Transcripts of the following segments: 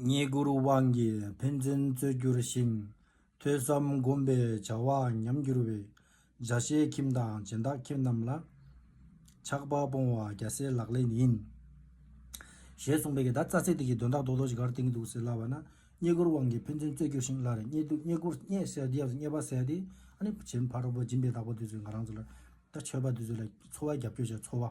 རྙེད་བཀུར་དབང་གིས་ཕན་ཚུན་རྩོད་གྱུར་ཞིང། ཐོས་བསམ་སྒོམ་པའི་བྱ་བ་ཉམས་བསྒྱུར་བའི། འཇའ་ཤེལ་ཁྱིམ་དང་སྦྱིན་བདག་ཁྱིམ་རྣམས་ལ། ཆགས་པ་སྤོང་བ་རྒྱལ་སྲས་ལག་ལེན་ཡིན། ཞེས་གསུངས་པའི་གདའ། རྩ་ཚིག་དེ་གའི་དོན་དག་རྡོ་རྡོ་ཞིག་གར་བཏིང་གི་འདུག་ཟེར་སླ་བ་ན། རྙེད་བཀུར་དབང་གིས་ཕན་ཚུན་རྩོད་གྱུར་ཞིང་སླར་རྙེད་དུ་རྙེད་བཀུར་རྙེད་ཟེར་དེ་ཡབ་ཏུ་རྙེད་པ་ཟེར་ཏེ། ཨ་ནི་བྱེད་འཕགས་རོལ་པོ་སྦྱིན་པའི་བདག་པོ་དེ་ཚོས་ང་རང་ཚོ་ལ། ད་ཆོས་པ་དེ་ཚོ་ལ་འཚོ་བ་རྒྱབ་སྐྱོར་བྱས་འཚོ་བ།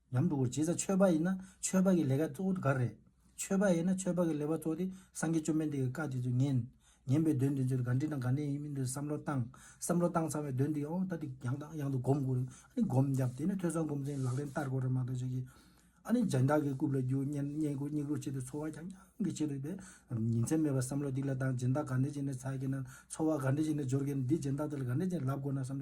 ཡང་དྲུག་གོ། བྱེད་ས་ཆོས་པ་ཡིན་ན་ཆོས་པ་གི་ལས་ཀ་གཙོ་བོ་དེ་ག་རེད། ཆོས་པ་ཡིན་ན་ཆོས་པ་གི་ལས་པ་གཙོ་བོ་དེ་སངས་རྒྱས་བཅོམ་ལྡན་འདས་ཀྱི་བཀའ་དེ་ཚོ་ཉན། ཉན་པའི་དོན་དེ་ཚོ་ག་འདྲི་དང་ག་འདྲི་ཡིན་མིན་དེ་བསམ་བློ་བཏང། བསམ་བློ་བཏང་ཚར་བའི་དོན་དེ་ཨོ་ད་དེ་ཡང་དང་ཡང་དུ་སྒོམ་དགོས་རེད། ཨ་ནི་སྒོམ་བརྒྱབ་དེ་ནས་ཐོས་བསམ་སྒོམ་ཚན་ལག་ལེན་བསྟར་དགོས་རེད་མ་གཏོགས་ཆོས་ཀྱི། ཨ་ནི་སྦྱིན་བདག་གི་རྐུབ་ལ་རྒྱུག་བསྙེན་བཀུར་སྙིགས་རོ་བྱས་ཏེ་འཚོ་བ་རྐྱང་རྐྱང་གི་བྱེད་འདོད་པས། ཉིན་མཚན་མེད་པར་བསམ་བློ་སྡིག་ལ་བཏང་སྦྱིན་བདག་ག་འདྲི་བྱས་ནས་ཚར་གྱི་ན། འཚོ་བ་ག་འདྲི་བྱས་ནས་སྦྱོར་གྱི་ན་འདིས་སྦྱིན་བདག་དེ་ལ་ག་འདྲི་བྱས་ནས་ལབ་དགོས་ན་བསམ།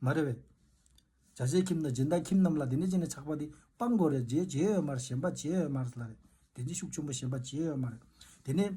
མ་རེད་བས། བྱ་བྱེད་ཁྱིམ་དང་སྦྱིན་བདག་ཁྱིམ་རྣམས་ལ་དེ་འདྲའི་ཅན་ནས་ཆགས་པ་འདི་སྤང་དགོས་རེད་རྗེས་བྱེད་ཡོད་མ་རེད་གཞན་པ་བྱེད་ཡོད་མ་རེད་ལ་རེད་དེ་འདྲའི་ཤུགས་ཆེན་པོ་གཞན་པ་བྱེད་ཡོད་མ་རེད་དེ་ནས།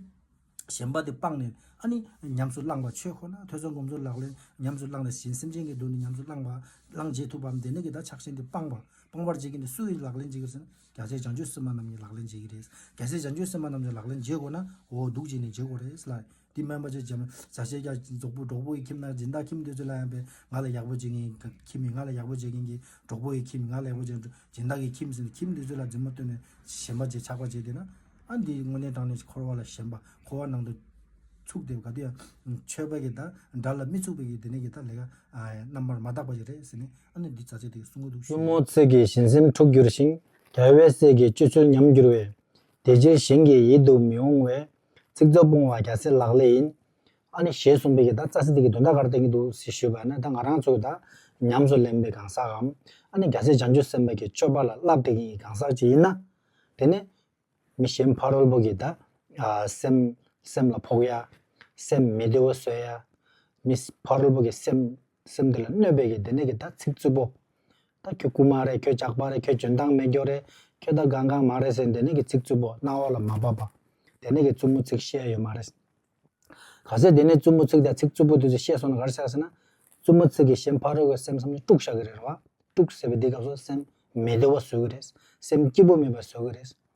གཞན་པ་དེ་སྤངས་ནས་ཨ་ནི་ཉམས་སུ་བླངས་པ་ཆོས་ཁོ་ན་ཐོས་བསམ་སྒོམ་ཚུལ་ལག་ལེན་ཉམས་སུ་བླངས་ནས་གཞན་སེམས་ཅན་གྱི་སྡུག་ནི་ཉམས་སུ་བླངས་པ་བླངས་བྱེད་ཐུབ་པའམ་དེ་ནས་ཀྱི་ད་ཆགས་ཞེན་དེ་སྤངས་པ་སྤང་བར་བྱེད་ཀྱི་ནི་སུ་ཡིས་ལག་ལེན་བྱེད་ཀྱི་ཟེར་ན་རྒྱ་ཆེའི་བྱང་ཆུབ་སེམས་དཔའ་རྣམས་ཀྱིས་ལག་ལེན་བྱེད་ཀྱི་རེད། རྒྱ་ཆེའི་བྱང་ཆུབ་སེམས་དཔའ་རྣམས་ཀྱིས་ལག་ལེན་བྱེད་དགོས་ན་འོ་སྡུག་བྱས་ནས་བྱེད་དགོས་རེད་ལ། འདི་སྨན་པ་ཆེ་བྱམས་ཟ་བྱེད་རྒྱ་རྫོགས་པོ་གྲོགས་པོ་ཡི་ཁྱིམ་ན་སྦྱིན་བདག་ཁྱིམ་དུས་ཚོད་ལ་ཡང་པས་ང་ལ་ཡག་པོ་བྱེད་མཁན་གྱི་ཁྱིམ་མིན་ང་ལ་ཡག་པོ་བྱེད་མཁན་གྱི་གྲོགས་པོ་ཡི་ཁྱིམ་མིན་ང་ལ་ཡག་པོ་བྱེད་མཁན་སྦྱིན་བདག་གི་ཁྱིམ་ཟེར་ནས་ཁྱིམ་དུས་ཚོད་ལ་རྫུན་མ་བཏོན་ནས་ཞེན་པ་བྱེད་ཆགས་པ་བྱེད་དེ་ན་ཨ་འདིས་དངོས་གནས་དྲང་ནས་འཁོར་བ་ལ་ཞེན་པ་འཁོར་བ་ནང་དུ་ཚུགས་ཏེ་ག་དུས་ཡང་ཆོས་པ་གི་དང་འདྲ་ལ་མི་ཚུགས་པའི་གི་དེ་ནས་གི་ད་ལས་ཀ་རྣམ་པར་མ་དག་པ་ཞིག་རེད་ཟེར་ནས་ཨ་ནུས་འདི་ཟ་བྱེད་དེ་གསུང་གི་འདུག་གཡུང་ཞེས་མོ་ཚིག་གིས་བཞིན་སེམས་འཁྲུགས་འགྱུར་ཞིང་དལ་བས་སྲས་ཀྱི་སྤྱོད་ཚུལ་ཉམས་འགྱུར་བས། དེ་ཕྱིར་གཞན་གྱི་ཡིད་དུ་མི་འོང་བས་ཚིག་རྩུབ་སྤོང་བ་རྒྱ་སེ་ལག་ལས་ཡིན། ཨ་ནི་ཞེས་གསུངས་པའི་གི་ད་རྩ་སེ་དེ་གི་དོན་ད་གར་བསྟན་གི་འདུག་ཟེར་ཞུས་པ་ནི་ད་ང་རང་ཚོ་གི་ད་ཉམས་སུ་ལེན་པའི་གང་ཟག་གམ། ཨ་ནི་རྒྱ་སེ་བྱང་ཆུབ་སེམས་དཔའ་གི་སྤྱོད་པ་ལ་བསླབ་བསྟེན་གི་གང་ཟག་ཅིག་ཡིན་ན། དེ་ནི། མི་གཞན་ཕ་རོལ་པོ་གི་ད། སེམས་ལ་ཕོག་ཡ། སེམས་མི་བདེ་བོ་བཟོས་ཡ། མི་ཕ་རོལ་པོ་གི་སེམས། སེམས་འདི་ལ་གནོད་པའི་གི་དེ་ནས་གི་ད་ཚིག་རྩུབ་པོ། ད་ཁྱོད་རྐུན་མ་རེད་ཁྱོད་ཇག་པ་རེད་ཁྱོད་འཇོན་ཐང་མེད་སྐྱོ་རེད་ཁྱོད་ད་གང་གང་མ་རེད་ཟེར་དེ་ནས་གི་ཚིག་རྩུབ་པོ་རྣ་བ་ལ་མ་བབས་པ། དེ་ནས་གི་རྩུབ་མོ་ཚིག་བཤད་ཡོད་མ་རེད། ག་ཚད་དེ་ནས་རྩུབ་མོ་ཚིག་ད་ཚིག་རྩུབ་པོ་དེ་ཚོ་བཤད་སོང་ན་ག་རེ་བྱ་ཟེར་ན། རྩུབ་མོ་ཚིག་གི་གཞན་ཕ་རོལ་བའི་སེམས་བསམ་བློ་དཀྲུག་བཞག་གི་རེད་རེད་བ། དཀྲུག་ཟེར་བའི་འདི་སྐབས་སུ་སེམས་མི་བདེ་བ་བཟོས་གི་རེད། སེམས་སྐྱིད་པོ་མེད་པ་བཟོས་གི་རེད།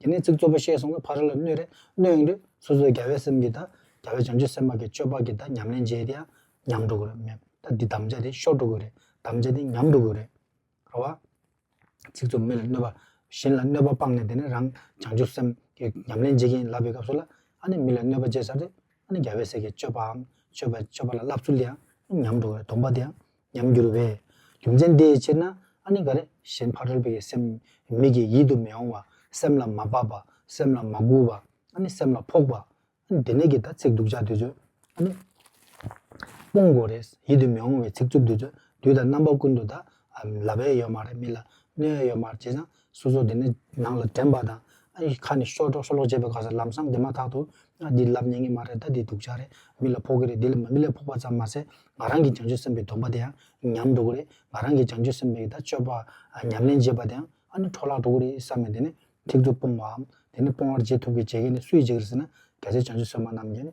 དེ་ནས་ཚིག་རྩུབ་པོ་བཤད་སོང་བས་ཕ་རོལ་ལ་གནོད་རེ་གནོད་ཡོང་དུས་སོ་སོའི་རྒྱལ་བའི་སེམས་ཀྱིས་དང་རྒྱལ་བའི་བྱང་ཆུབ་སེམས་དཔའ་གྱི་སྤྱོད་པ་གྱིས་དང་ཉམས་ལེན་བྱས་དེའང་ཉམས་འགྲོ་དགོས་རེད་མེད་ད་འདི་དམ་བཅའ་དེ་ཤོར་འགྲོ་དགོས་རེད་དམ་བཅའ་དེ་ཉམས་འགྲོ་དགོས་རེད་རེད་བ། ཚིག་རྩུབ་མི་ལ་གནོད་པ། གཞན་ལ་གནོད་པ་སྤངས་ནས་དེ་ནས་རང་བྱང་ཆུབ་སེམས་ཀྱི་ཉམས་ལེན་བྱེད་ཀྱིན་ཡིན་ལབ་པའི་སྐབས་སུ་ལ་ཨ་ནི་མི་ལ་གནོད་པ་བྱས་ཚར་དུས་ཨ་ནི་རྒྱལ་བའི་སྲས་ཀྱི་སྤྱོད་པའམ་སྤྱོད་པའི་སྤྱོད་པ་ལ་བསླབ་ཚུལ་དེའང་ཉམས་འགྲོ་དགོས་རེད་སྡོམ་པ་དེའང་ཉམས་འགྱུར་བས། རྒྱུ་མཚན་དེའི་ཕྱིར་ན་ཨ་ནི་ག་རེ། གཞན་ཕ་རོལ་པོ་ཡི་སེམས། མིག་གིས་ཡིད་དུ་མི་འོང་བ། སེམས་ལ་མ་བབས་པ། སེམས་ལ་མ་སྒུག་པ། ཨ་ནི་སེམས་ལ་ཕོག་པ། ཨ་ནི་དེ་ནས་ཀྱི་ད་ཚིག་འབྲུག་ཆགས་དུས་ཚོད། ཨ་ནི། སྤོང་དགོས་རེད། ཡིད་དུ་མི་འོང་བའི་ཚིག་རྩུབ་དུས་ཚོད། དུས་དང་རྣམ་པ་ཀུན་ཏུ་ད། ལབ་ཨེ་ཡོད་མ་རེད་མི་ལ། གནོད་ཨེ་ཡོད་མ་རེད་བྱས་ཙང། སོ་སོ་དེ་ནས་ནང་ལ་དྲན་པ་དང། ཨ་ཡིས་ཁ་ནས་ཤོག་སྒྲོག་ཤོག་སྒྲོག་བྱེད་པའི་སྐབས་སུ་ལམ་སང་དེ་མ་ཐག་ཏུ། ཨ་འདི་ལབ་ཉན་ངེས་མ་རེད་ད་འདི་སྡུག་ཅག་རེད་མི་ལ་ཕོག་གི་རེད་འདི་ལ་མི་ལས་ཕོག་པ་ཙམ་མ་ཟད་ང་རང་གིས་བྱང་ཆུབ་སེམས་པའི་སྡོམ་པ་དེ་ཡང་ཉམས་འགྲོ་གི་རེད་ང་རང་གིས་བྱང་ཆུབ་སེམས་པའི་ད་སྤྱོད་པ་ཉམས་ལེན་བྱེད་པ་དེ་ཡང་ཨ་ནི་འཕྲོ་བརླག་འགྲོ་གི་རེད་བསམ་ནས་དེ་ནས་ཐིག་ཚུར་སྤོང་བའམ་དེ་ནས་སྤོང་བར་བྱེད་ཐུབ་གི་བྱེད་མཁན་ནི་སུ་ཡིས་བྱེད་གི་རེད་ཟེར་ན་གལ་སྲིད་བྱང་ཆུབ་སེམས་དཔའ་རྣམས་ཀྱིས་ནི་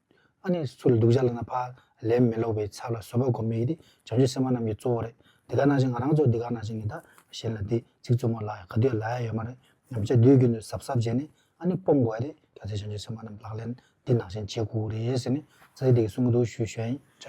ཨ་ནི་སུ་ལ་སྡུག་ཅག་ལ་ན་བ། ལན་མི་སློག་པའི་ཚབ་ལ་བཟོད་པ་སྒོམ་མི་ཡི་དེ་བྱང་ཆུབ་སེམས་དཔའ་རྣམས་ཀྱི་གཙོ་བོ་རེད་འདི་ག་ན་བཞིན་ང་རང་ཚོ་འདི་ག་ན་བཞིན་ངེད་དག་གཞན་ལ་དེ་ཚིག་རྩུབ་མོ་ལ་ག་དུས་ལ་ཡ་ཡོད་མ་རེད་ཉམས་ཆག་དུས་རྒྱུན་དུ་ཟབ་ཟབ་བྱས་ནས་ཨ་ནི་སྤོང་དགོས་རེད་གལ་སྲིད་བྱང་ཆུབ་སེམས་དཔའ་རྣམས་ལག་ལེན་འདི་ནང་བཞིན་བྱེད་དགོས་རེད་ཟེར་ནས་རྩ་ཡི་དེ་གི་གསུང་གི་འདུག་ཞུ་ཞོན་ཡིན།